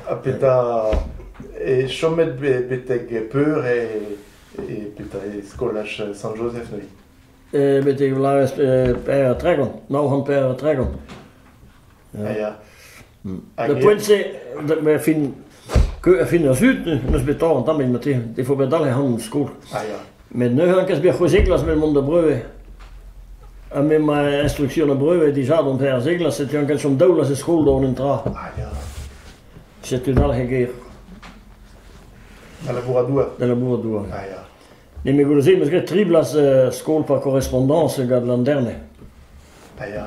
Ha petra, chomet betek peur eo petra eo skolaj Sant-Jozef neuze? Betek 'vloavezh per tregont, nav c'hant per tregont. Ya, ya. Da poent-se, a fin, a fin ar sud, n'eus bet tamm an tamm evit ma teu. Il faut bet dale han skol. Met neuze an kaoz c'hwezeglas met mont da breuve. Ha met ma instruction a breuve dija d'an per zeglas, setu an kaoz chom daolas e skol d'an un tra. Setu dal he ger. Da labourat doa. Da labourat doa. Ne me goulze, m'eus graet tri blas skol par correspondance gant l'an dernier. Ah ja.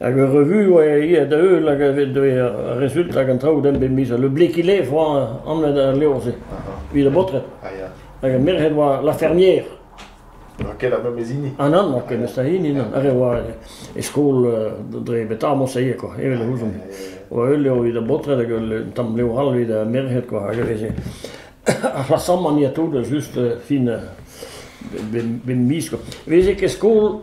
Hag ur revue oa aet da heul hag a vez dre ar rezultat hag an traoù din bep miz. Le Bléquilé oa anvet al levr-se evit ar baotred. Ah ya. Hag ar merc'hed oa La Fermière. N'oa ket ar memes hini. Ah non, n'oa ket neus hini non. Ar re oa e skol dre beta Montseillet quoi, evel e ouzomp. Oa ul levr evit ar baotred hag un tamm levr all evit ar merc'hed quoi, hag a veze ar c'hlasamant ya tout, just fin bep miz quoi. Veze ket skol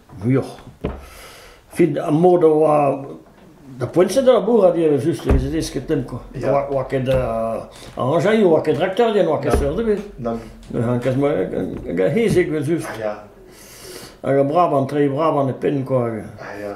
vuioc'h. Fin ar mod a oa... Da poent-se da labourat eo just, e veze desketenn kwa. Ya. Oa, oa ket uh, aranjailh, oa ket rakterien, oa ket seurt ebet. Nann. Hankas ma gant hezek eus uf. Ya. Hag a braban, trei braban e pen kwa. hag- Ah, ya.